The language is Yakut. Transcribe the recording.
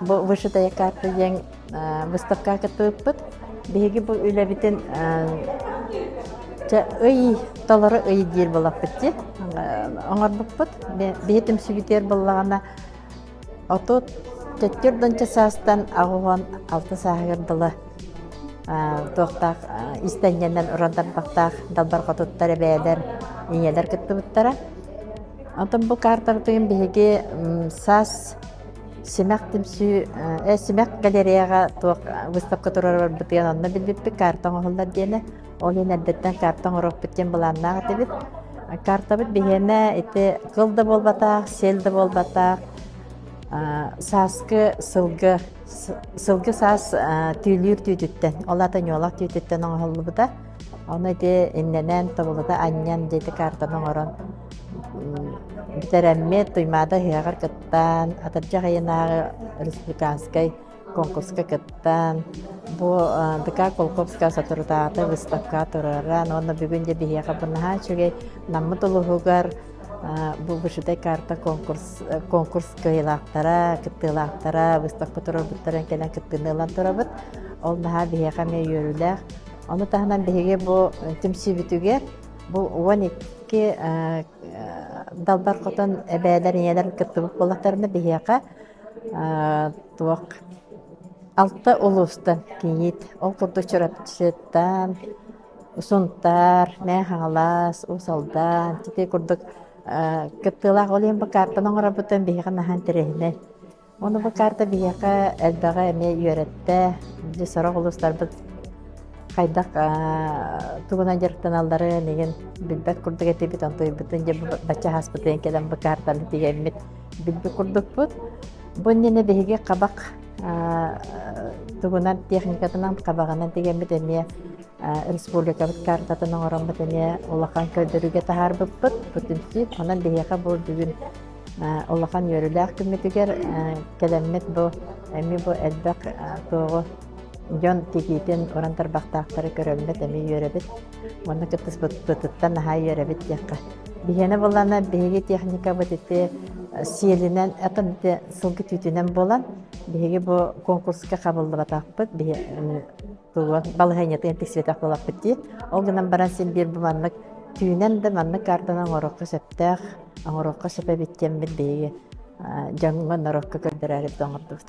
Бу вышитая карта диэн выставкаҕа кыттыбыппыт. Биһиги бу үлэбитин ый толору ый диир буолаппыт дии оҥорбуппут. Биһи түмсүбүтүгэр буллаҕына отут төттөр донча саастан аҕыган алты сааһыгар дылы туохтаах истэнньэннэн уран тарбахтаах далбар хотуттар эбээлэр ийэлэр кыттыбыттара. Оттон бу картабытын биһиги саас Симэх түмсүү, э, симэх галереяҕа туох выставка турарбытыгар онно билбиппит карта оҥоһуллар диэни. Ол иһин эрдэттэн карта оҥороппут диэн былааннаах этибит. Картабыт биһиэнэ ити кыл да буолбатаах, сел да буолбатаах, сааскы сылгы, сылгы саас түүлүүр түүтүттэн, ол ата ньуолах түүтүттэн оҥоһуллубута. Ону ити иннэнэн тобулута анньан дьити картаны оҥорон бүтэрэммит Туймаада ыһыаҕар кыттан, Атырдьах ыйынааҕы республиканскай конкурска кыттан, бу ДК Кулаковская соторутааҕыта выставкаҕа тураран уонна бүгүн дьэ биһиэхэ бу наһаа үчүгэй Наммыт улууһугар бу вышитай карта конкурс конкурс кыайыылаахтара, кыттыылаахтара выставка турарбыттарын кэлэн кыттыыны ылан турабыт. Ол наһаа биһиэхэ эмиэ үөрүүлээх. Ону таһынан биһиги бу түмсүүбүтүгэр бу уон икки далбар хотон эбээлэр ийэлэр кыттыбыт буоллахтарына биһиэхэ туох алта улуустан кийиит ол курдук Чурапчыттан Сунтаар, Мэхаҥалас, Уусалдан ити курдук кыттыылаах ол иһин бу каартаны оҥорорбутун биһиги наһан тэрээһинэй Ону бу карта биһиэхэ элбэҕи эмиэ үөрэттэ. Дьэ сорох улуустарбыт хайдах тугунан дьарыктаналларын игин билбэт курдук этибит, онтуйбутун дьэ бачча хаспытын кэлэн бу картаны тиэммит билбит курдукпут. Бу иннинэ биһиги кабак тугунан техникатынан кабагынан тиэммит эмиэ республикабыт картатын оҥороммут эмиэ улахан көрдөрүүгэ таһаарбыппыт. Бүтүн син онон биһиэхэ бу бүгүн улахан үөрүүлээх күммүтүгэр кэлэммит бу эмиэ бу элбэх туоҕу дьон тигиитин уран тарбахтаахтары көрөммүт эмиэ үөрэбит уонна кыттыспыппытыттан наһаа үөрэбит диэххэ биһиэнэ буоллана биһиги техникабыт ити сиэлинэн атын ити сылгы түүтүнэн буолан биһиги бу конкурска хабыллыбатахпыт биһи туруон балаһыанньатын ытык сибэтэх буолаппыт дии. Ол гынан баран син биир бу маннык түүнэн да маннык каартаны оҥоруохха сөптөөх, оҥоруохха сөп эбит диэммит биһиги дьоҥҥо норуокка көрдөрөөрү оҥордубут.